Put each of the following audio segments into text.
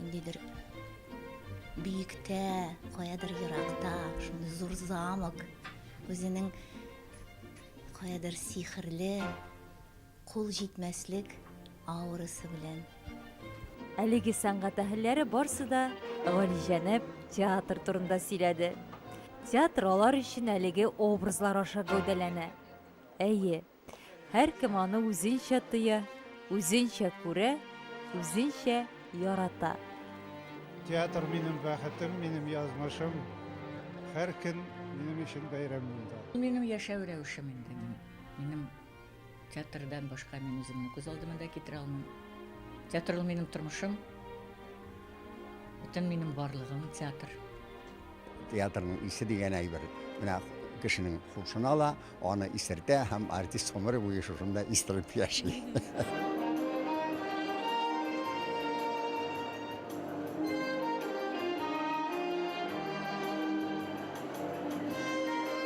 Ниндидер биектә, каядыр еракта, шундый зур замок, үзенең каядыр сихерле, кул җитмәслек аурасы белән. Әлеге сәнгать әһелләре барсы да галиҗәнәп театр турында сөйләде. Театр алар өчен әлеге образлар аша гәүдәләнә. Әйе, Һәркем аны үзенчә тоя, үзенчә күрә, үзенчә ярата. Театр минем бәхетем, минем язмышым. Һәр көн минем өчен бәйрәм монда. Минем яшәү рәвешем инде мин. Минем театрдан башка мин үземне күз алдыма да китерә алмыйм. Театр ул минем тормышым. Бөтен минем барлыгым театр. Театрның исе дигән әйбер менә кешенең хушын ала, Аны исертә һәм артист гомере буе шушында истәлеп яши.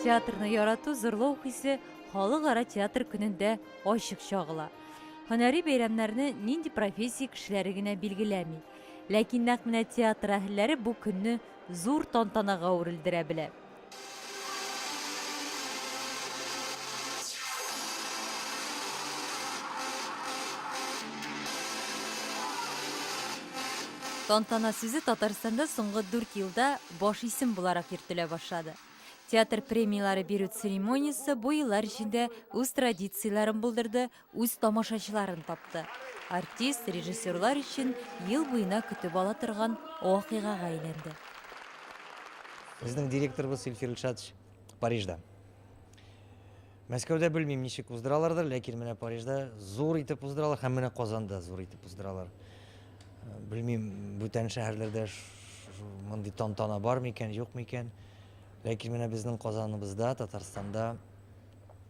Театрны ярату, зурлау хисе халыкара театр көнендә ачык чагыла. Һөнәри бәйрәмнәрне нинди профессия кешеләре генә билгеләми. Ләкин нәкъ менә театр әһелләре бу көнне зур тантанага үрелдерә белә. Тантана сүзе Татарстанда соңгы дүрт елда баш исем буларак йөртелә башлады. Театр премияләре бирү церемониясе бу еллар эчендә үз традицияләрен булдырды, үз тамашачыларын тапты. Артист режиссерлар өчен ел буена көтеп ала торган вакыйгага әйләнде. Безнең директорыбыз Илфир Илшатович Парижда. Мәскәүдә белмим, ничек уздыралардыр, ләкин менә Парижда зур итеп уздыралар һәм менә Казанда зур итеп уздыралар. Э, белмим, бүтән шәһәрләрдә мондый тантана бар микән, юк микән. Ләкин менә безнең Казаныбызда, Татарстанда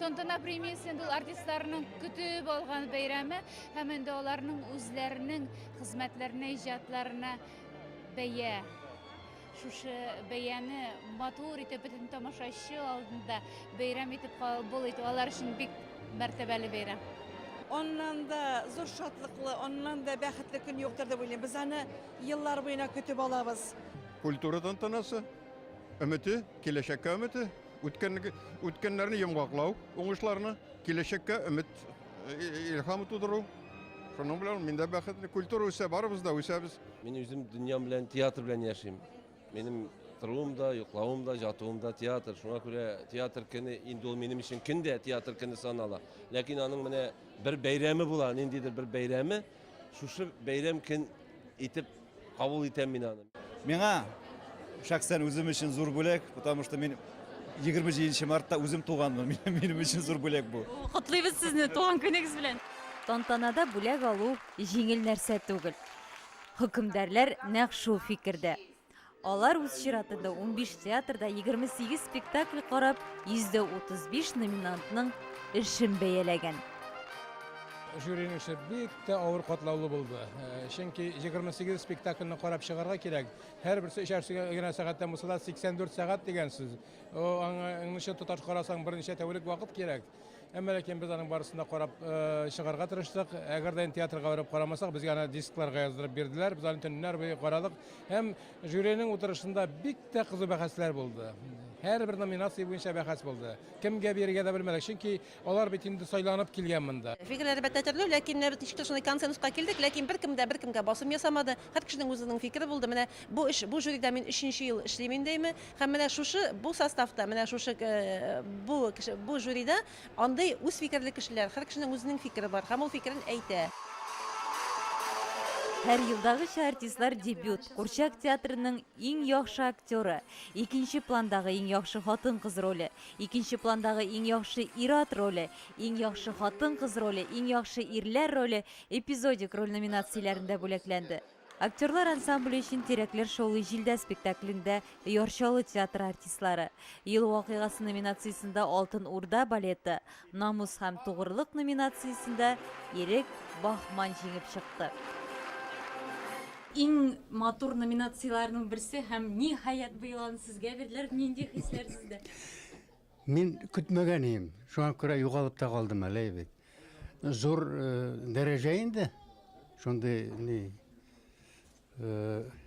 Тантана премиясендә ул артистларның көтеп алган бәйрәме һәм инде аларның үзләренең хезмәтләренә, иҗатларына бәя. Шушы бәяне матур итеп бөтен тамашачы алдында бәйрәм итеп кабул итү алар өчен бик мәртәбәле бәйрәм. Аннан да зур шатлыклы, аннан да бәхетле көн юктыр дип уйлыйм. Без аны еллар буена көтеп алабыз. Культура тантанасы, өмете, киләчәккә өмете. Үткәнге үткәннәрне йомгаклау, уңышларны, киләчәккә өмет, илһам тудыру. Шуның белән мин дә бәхетле. Культура үсә, барыбыз да үсәбез. Мин үзем дөньям белән театр белән яшим. Минем торыуым да, йоклавым да, жатуым да театр. Шуңа күрә театр көне инде ул минем өчен көн дә театр көне санала. Ләкин аның менә бер бәйрәме була, ниндидер бер бәйрәме. Шушы бәйрәм көн итеп Кабул итәм мин аны. Миңа шәхсән үзем өчен зур бүләк, потому что мин 27 мартта үзем туганмын. Минем өчен зур бүләк бу. Котлыйбыз сезне туган көнегез белән. Тантанада бүләк алу җиңел нәрсә түгел. Хөкемдарлар нәкъ шул фикердә. Алар үз чиратында 15 театрда 28 спектакль карап, 135 номинантның эшен бәяләгән. Жюриның эше бик Бик авыр катлаулы булды. Чөнки 28 спектакльне карап чыгарга кирәк. Һәрберсе өчәр генә сәгатьтән булса да 84 сәгать дигән сүз. Аңа аңлышы тоташ карасаң берничә тәүлек вакыт кирәк. Әмма ләкин без аның барысын да карап чыгарга тырыштык. Әгәр дә театрга барып карамасак, безгә аны дискларга яздырып бирделәр. Без аны төннәр буе карадык. Һәм жюриның утырышында бик тә кызу бәхәсләр булды. Һәрбер номинация буенча бәхәс булды. Кемгә бирергә дә белмәдек. Чөнки Алар бит инде сайланып килгән монда. Фикер, әлбәттә, төрле, ләкин менә без ничек тә шундый консенсуска килдек, ләкин беркем дә беркемгә басым ясамады. Һәр кешенең үзенең фикере булды. Менә бу эш, бу жюрида мин өченче ел эшлим инде име, һәм менә шушы, бу составта, менә шушы, бу кеше, бу жюрида андый үз фикерле кешеләр, һәр кешенең үзенең фикере бар һәм ул фикерен әйтә. Һәр елдагыча артистлар дебют, Курчак театрының иң яхшы актеры, икенче пландагы иң яхшы хатын-кыз роле, Икенче пландагы иң яхшы ир-ат роле, иң яхшы хатын-кыз роле, иң яхшы ирләр роле, эпизодик роль номинацияләрендә бүләкләнде. Актерлар ансамбле өчен Тирәкләр шаулый җилдә спектаклендә Яр Чаллы театры артистлары, Ел вакыйгасы номинациясендә Алтын Урда балеты, Намус һәм тугрылык номинациясендә Ирек Бахман җиңеп чыкты. Иң матур номинацияләрнең берсе һәм, ниһаять, быел аны сезгә бирделәр. Нинди хисләр сездә? Мин көтмәгән идем. Шуңа күрә югалып та калдым әле бит. Зур дәрәҗә инде. Шундый ни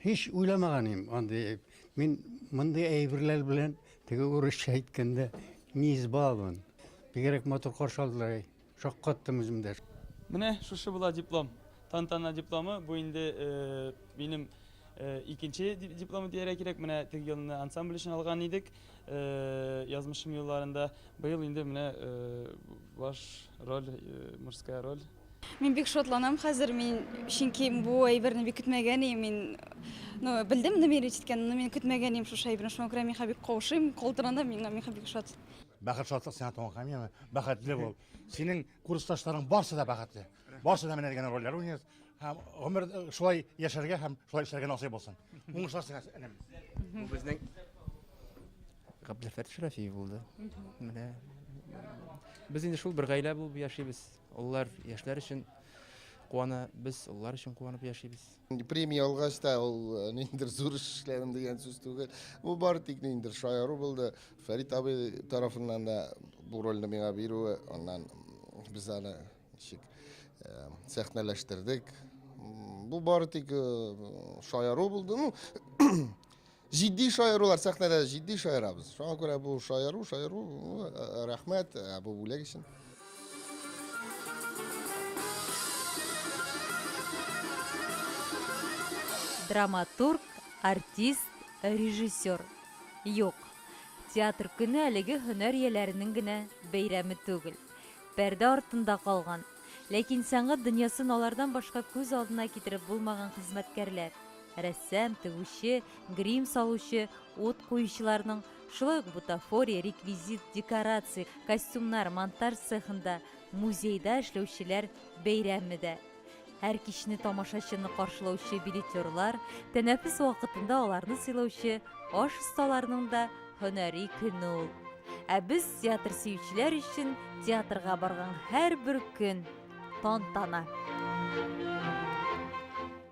Һич уйламаган идем андый әйб. Мин мондый әйберләр белән теге урысча әйткәндә не избалован. Бигрәк матур каршы алдылар. Шаккаттым үзем дә. Менә шушы була диплом. Тантана дипломы. Бу инде минем икенче дипломы дияргә кирәк. Менә теге елны ансамбль өчен алган идек. Язмышым юлларында. Быел инде менә баш роль, мужская роль. Мин бик шатланам хәзер, мин чөнки бу әйберне бик көтмәгән идем. Мин ну, белдем намерить иткән, но мин көтмәгән идем шушы әйберне. Шуңа күрә миңа бик каушыйм, калтыранам, миңа миңа бик шат. Бәхет шатлык сиңа туган камилә, бәхетле бул. Синең курсташларың барсы да бәхетле. Барсы да менә дигән рольләр уйный. Һәм гомер э, шулай яшәргә һәм шулай эшләргә насыйп булсын. Уңышлар сиңа, энем. Бу безнең Габделфәт Шәрәфиев булды. Менә без инде шул бер гаилә булып яшибез. Олылар яшьләр өчен куана, без олылар өчен куанып яшибез. Премия алгач та ул э, ниндидер зур эш эшләдем дигән сүз түгел. Бу бары тик ниндидер шаяру булды. Фәрит абый тарафыннан да бу рольне миңа бирүе, аннан без аны ничек э, сәхнәләштердек. Бу бары тик э, шаяру булды. Ну, Җитди шаярулар сәхнәдә җитди шаярабыз. Шуңа күрә бу шаяру, шаяру рәхмәт бу бүләк өчен. Драматург, артист, режиссер. Юк. Театр көне әлеге һөнәр ияләренең генә бәйрәме түгел. Пәрдә артында калган, ләкин сәнгать дөньясын алардан башка күз алдына китереп булмаган хезмәткәрләр, Рәссам, тегүче, грим салучы, ут куючыларның, шулай ук бутафория, реквизит, декорация, костюмнар, монтаж цехында, музейда эшләүчеләр бәйрәме дә. Һәр кичне тамашачыны каршылаучы билетерлар, тәнәфес вакытында аларны сыйлаучы аш осталарының да һөнәри көне ул. Ә без театр сөючеләр өчен театрга барган һәрбер көн тантана.